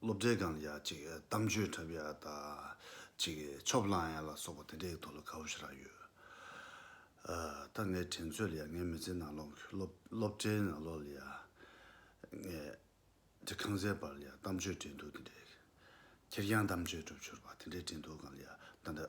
སློབ་གྲྭའི་སྒང་ལ་ཡ་ཅིག་གཏམ་བརྗོད་འཁྲབ་ཡ་ད་ཅིག་ཆོབ་བསླང་ཡ་ལ་སོགས་པ་དེ་འདྲའི་ཐོག་ལ་ག་བུ་ཞིག་རག་ཡོད། ད་ངའི་དྲན་ཚོད་ལ་ཡ་ངའི་མི་ཚེའི་ནང་ལོག་སློབ་གྲྭའི་ནང་ལོག་ལ་ཡ་ངའི་འདྲི་ཁང་ཟས་པར་ལ་ཡ་གཏམ་བརྗོད་དྲན་འདུག་དེ་འདྲའི་ཁེར་རྐྱང་གཏམ་བརྗོད་འཁྲབ་ཆོར་བ་དེ་འདྲའི་དྲན་འདུག་སྒང་ལ་ཡ་ད་འདྲ།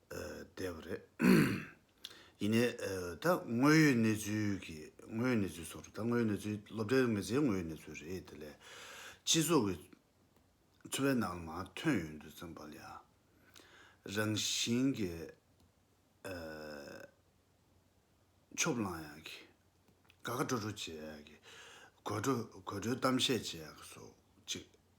བསྡད་པ་རེད། ཡིན་ནའི། ད་དངོས་ཡོད་གནས་ཚུལ་གྱི་དངོས་ཡོད་གནས་ཚུལ་སོགས་རེད། ད་དངོས་ཡོད་གནས་ཚུལ་སློབ་གྲྭའི་མི་ཚེའི་དངོས་ཡོད་གནས་ཚུལ་རེད་དེ་ལས། སྤྱི་ཚོགས་ཀྱི་འཚོ་བའི་ནང་ལ་མ་ཐོན་ཡོད་འདུག་ཙམ་པ་ལས། རང་བཞིན་གྱི་ཕྱོགས་གླང་ཡག་གི། དགའ་དགའ་སྤྲོ་སྤྲོ་བྱེད་ཡག་གི། དགོད་བྲོ་དགོད་བྲོའི་གཏམ་བཤད་བྱེད་ཡག་གི་སོགས་ཅིག་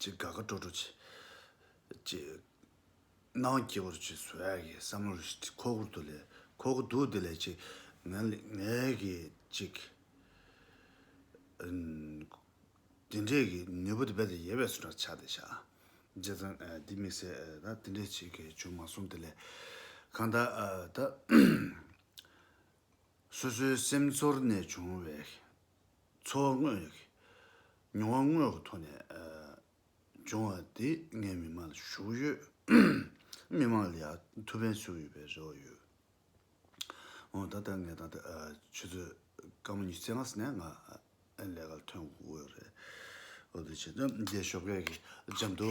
ཅེས་དགའ་དགའ་སྤྲོ་སྤྲོ་བྱེད། ཅེས། སྣང་བ་སྐྱིད་པོར་བྱེད་ཟོ་ཡག་གི་བསམ་བློར་ཁོག་ཁུར་དུ་ལས། ཁོག་ཁུར་དུ་དེ་ལས་ཅིག། ངས་ཀྱིས་ཅིག། འདི་འདྲས་ཀྱི་ནུས་པ་དེ་རྦད་དེ་ཡལ་བའི་སུ་འདྲ་ཆགས་ཏེ་བཞག། རྗེས་ཙང་འདི་མི་ཟེར་ད་འདི་འདྲས་ཅིག་གིས་བྱུང་མ་སོང་དེ་ལས། གང་ལྟར། ད། སོ་སོའི་སེམས་ཚོར་ནས་བྱུང་བའི། ཚོར་དངོས། མྱོང་བ་དངོས་ཀྱི་ཐོག་ནས་བྱུང་བ་དེ་ངའི་མི་མང་ལ་ཞུགས་ཡོད། མི་མང་ལ་ཡང་ཐུགས་ཕན་ཞུགས་ཡོད་པའི་རེ་བ་ཡོད། འོན་ད་ལྟ་ངས་ད་ལྟ་ཆུ་ཚོད་སྐར་མ་ཉི་ཚེ་ལྔ་ཟིན་ནས་ང་ལས་ཀར་ཐོན་དགོས་རེད། འོ་དེ་ཕྱིན་ཏེ་རྒྱའི་ཞོགས་ཁས་ཀྱི་འཇམ་དུ།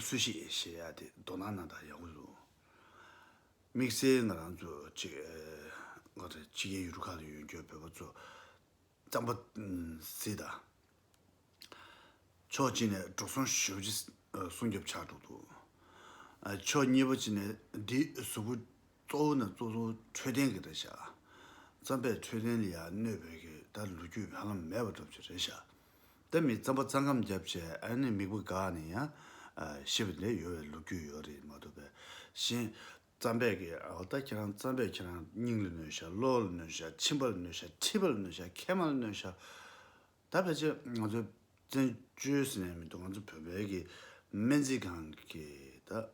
སུ་ཞིག་ཞེས་ཡ་དེ་མདོ་སྣ་ན་དག་ཡག་པོ་འདུག། དམིགས་བསལ་ང་རང་ཚོ་གཅིག་ཨ་རེ་ཕྱི་རྒྱལ་ཡུལ་གྲུ་ཁག་ཏུ་ཡོད་འགྱོད་བོད་པ་ཚོ་གཙང་པོ་སྲིད་དང། ཕྱོགས་གཅིག་ནས་འགྲོ་སོང་ཞོལ་གྱི་སྲུང་སྐྱོབ་ཆགས་འགྲོ་འདུག། ཕྱོགས་གཉིས་པ་གཅིག་ནས་འདི་གཟུ་བོ་གཙོ་བོ་ནས་གཙོ་བོ་འཕྲོད་བསྟེན་གྱི་རེད་ཤག། རྩམ་པས་འཕྲོད་བསྟེན་ལ་ཡང་གནོད་བོད་ཀྱི་ད་ལོ་རྒྱུས་བར་ལམ་མེད་པ་སྒྲུབ་ཀྱི་རེད་ཤག། དེ་མིན་རྩམ་པ་རྩ་ཁམས་བརྒྱབ་བྱས་ཨ་ནི་མིག་བུ་འགག་ནས་ཡང་ཤི་བ་ནི་ཡོད་བའི་ལོ་རྒྱུས་ཡོད་རེད་མ་ཐུབ་པས་གཞན། རྩམ་པས་ཀྱི་འོ་ད་ཁྱེད་རང་རྩམ་པས་ཁྱེད་རང་སྙིང་ལ་གནོད་ཤག་གློ་བོ་ལ་གནོད་ཤག་མཆིན་པ་ལ་གནོད་ཤག་མཁྲིས་པ་ལ་གནོད་ཤག་མཁལ་མ་ལ་གནོད་ཤག་ད་ཕལ་ཆེར་ང་ཚོའི་བཙན་བྱོལ་ཟེར་ནས་མི་འདུག་ང་ཚོ་བོད་པའི་ཀྱི་སྨན་རྩིས་ཁང་གི་ད།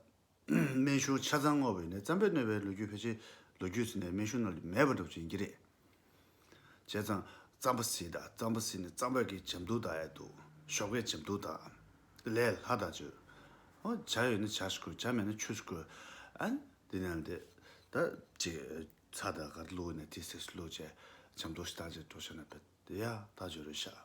སྨན་གཞུང་ཆ་ཚང་སྔོག་བའི་ནས་བརྩམས་པས་གནོད་པའི་ལོ་རྒྱུས་ཕལ་ཆེར་ལོ་རྒྱུས་ཟིན་ནས་སྨན་གཞུང་ནང་ལས་མེད་པར་འགྲོ་བཅས་ཡིན་གྱི་རེད། བྱས་ཙང། རྩམ་པ་ཟིན་དང་རྩམ་པ་ཟིན་ནས་རྩམ་བད་ཀའི་བྱམས་དུག་དང་ཨེ་དུག། ཞོགས་པའི་བྱམས་དུག་དང། ལས་སླ་དང་བཅོས། ཨོ། བྱ་ཡོད་ན་བྱ་ཞིག་བརྐོས་བྱ་མེད་ན་ཆུ་ཞིག་བརྐོས། ཨན། དེ་ནས་ཨན་དེ། ད། ཅེས། ཚ་དང་གར་བླུགས་ནས་དེ་ཟས་སུ་བླུགས་བྱས། བྱམས་དུག་ཞེ་སྡང་ཅན་གྲོ་ཞག་ན་བད། ཡ། ད་བྱོས་རོལ་ཞག།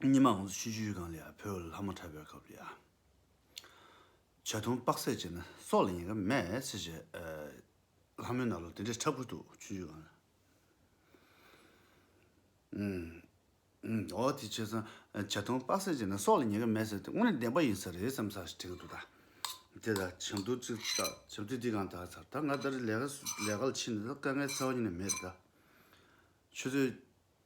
ཉི་མ་འོངས་སོ་ཤི་ཆུའི་སྒང་ལ་ཡ་ཕོའི་ལྷ་མོ་ཁྲ་བོའི་སྐབས་ལ་ཡ། བྱ་ཐུང་དཔག་ཚད་བྱས་ན་སྲོག་ལ་ཉེ་ག་མེད་ཚེ་བྱས། ལྷ་མོའི་ནག་ལོ་དེ་འདྲའི་ཁྲ་འཁུར་འདུག་ཆུ་ཆུའི་སྒང་ལ། འོ་དེ་ཆོས་ཚང་བྱ་ཐུང་དཔག་ཚད་བྱས་ན་སྲོག་ལ་ཉེ་ག་མེད་ཟེར་དེ་དངོས་ནས་བདེན་པ་ཡིན་ས་རེད་བསམ་ས་ཞིག་དྲན་གི་འདུག་ད། དེ་ལ་བྱང་དུ་ཅིག་བལྟ་བྱང་དུས་འདི་གང་དག་ཚར་ད་ང་ལྟར་ལས་ཀ་ལ་ཕྱིན་ནས་ད་དཀའ་ངལ་ཚ་བ་ཉིད་ནས་མེད་རེད་ད། ཆུ་ཚོད།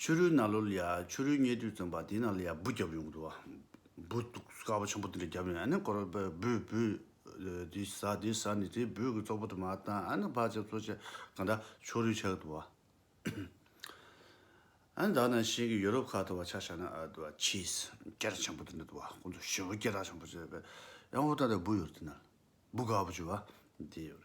ཆུ་རུལ་ནཱ་ལོལ་ཡ་ཆུ་རུལ་བསྙལ་དུས་བཙོན་པ་དེ་ནཱ་ལོལ་ཡ་འབུ་བརྒྱབ་ཡོང་གི་འདུག་འབུ་སྟུག་དཀར་པོ་ཆེན་པོ་དེ་འདྲ་བརྒྱབ་ཡོང་ཨ་ནི་སྐོར་བས་འབུ་འབུ་དེ་ཟ་དེ་ཟ་ནི་དེ་འབུ་གི་ཙོག་པོ་དུ་མ་བཏང་ཨ་ནི་བག་ཆགས་ཚོ་ཆེ་གང་འདྲ་ཆུ་རུལ་ཆགས་གི་འདུག་ཨ་ནི་བདག་ནང་བཞིན་གྱི་ཡོ་རོབ་ཁག་ཏུ་བ་ཆགས་ཆགས་ན་ཨ་དུ་བ་ཆིས་སྐེ་རགས་ཆེན་པོ་དེ་འདྲ་དུ་བ་ཁོང་ཚོ་ཞེ་བོ་སྐེ་རགས་ཆེན་པོ་བྱས་པས་ཡང་ཧུར་ཐག་ཏུ་འབུ་ཡོར་དེ་ནཱ་འབུ་དཀར་པོ་ཆུ་བ་དེ་ཡོར།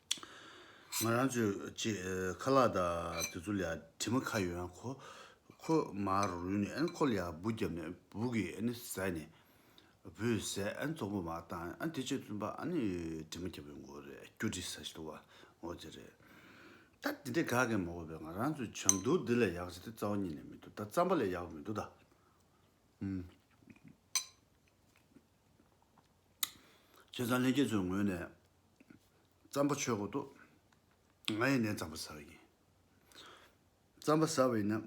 ང་རང་ཚོས་ཅེས་ཁ་ལག་དང་དེ་ཚོ་ལ་དྲི་མ་ཁ་ཡོད་ན་ཁོ་ཁོ་མར་རུལ་ནས་ཨ་ནི་ཁོ་ལ་ཡར་སྦུག་བརྒྱབ་ནས་སྦུག་གིས་ཨ་ནི་བཟས་ནས་བུ་བཟས་ཨ་ནི་ཙོག་པུ་མར་བཏང་ཨ་ནི་དེ་ཕྱིར་བཙུན་པ་ཨ་ནི་དྲི་མ་བརྒྱབ་པའི་མགོ་རེད་སྐྱུར་དྲི་ཟ་ཞིག་ལོ་བ་ངོ་དེ་རེད། ད་དེ་འདྲའི་དགའ་གས་མ་འོས་པས་ང་རང་ཚོའི་བྱམས་སྡུག་འདི་ལས་ཡག་ཅི་སྟེ་རྩ་བ་ཉིད་ནས་མི་འདུག་ད་རྩམ་པ་ལས་ཡག་པོ་མི་འདུག་ད། ཁྱེད་ཚང་ལྷན་རྒྱས་ཚོའི་ངོས་ནས་རྩམ་པ་ཆོས་གོ་ཏོ། ང་ཡི་ནས་རྩམ་པ་ཟ་བ་ཡིན། རྩམ་པ་ཟ་བ་ཡིན་ན།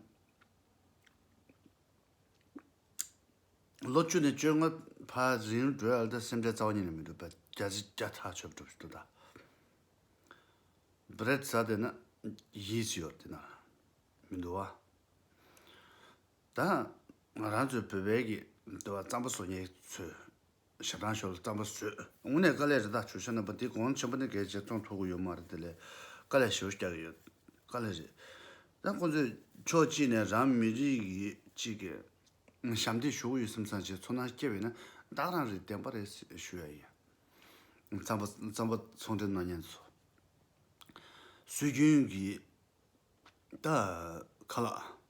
ལོ་བཅུ་ནས་བཅོ་ལྔ་བར་རིང་བགྲོད་ཨ་ལྟ་སེམས་ཁྲལ་རྩ་བ་ཉིད་ནས་མི་འདུག་པ་རྒྱ་རྩི་བརྒྱ་ཐག་ཆོད་པ་སྒྲུབ་ཞིག་ཏུ་གདའ། བརེད་ཟ་བསྡད་ན་ཡིད་ཅི་ཡོར་དེ་ན་མི་འདུག་བ། དང། ང་རང་ཚོའི་བོད་པའི་གི་འདི་བ་རྩམ་པ་བཟོ་མྱེད་ཚོས་ཞབས་དྲང་ཞོར་ལ་རྩམ་པ་བཟོས་དངོས་གནས་དཀའ་ལས་རེ་ད་ཆུ་ཤ་ནང་པ་དེ་གོང་ཆེན་པོ་ནས་གལ་ཆེ་ཙོང་ཐོག་གི་ཡོད་མ་རེད་དེ་ལས་དཀའ་ལས་ཞེའུ་རྐྱག་ཡོད་དཀའ་ལས་རེད་ད་ཁོང་ཚོས་ཕྱོགས་གཅིག་ནས་རང་མི་རིགས་ཡིད་གཅིག་གི་ཞབས་འདེགས་ཞུ་གི་ཡོད་སེམས་བཟང་ཞིག་ཚོར་སྣང་སྐྱེ་བས་ན་བདག་རང་རེ་བདེན་པ་རེ་ཞུ་ཡ་ཡིན། རྩམ་པ་རྩམ་པ་ཚོང་འགྲེམས་གནང་མྱེད་ཚོ་སྲོལ་རྒྱུན་གི་ད་ཁ་ལགས།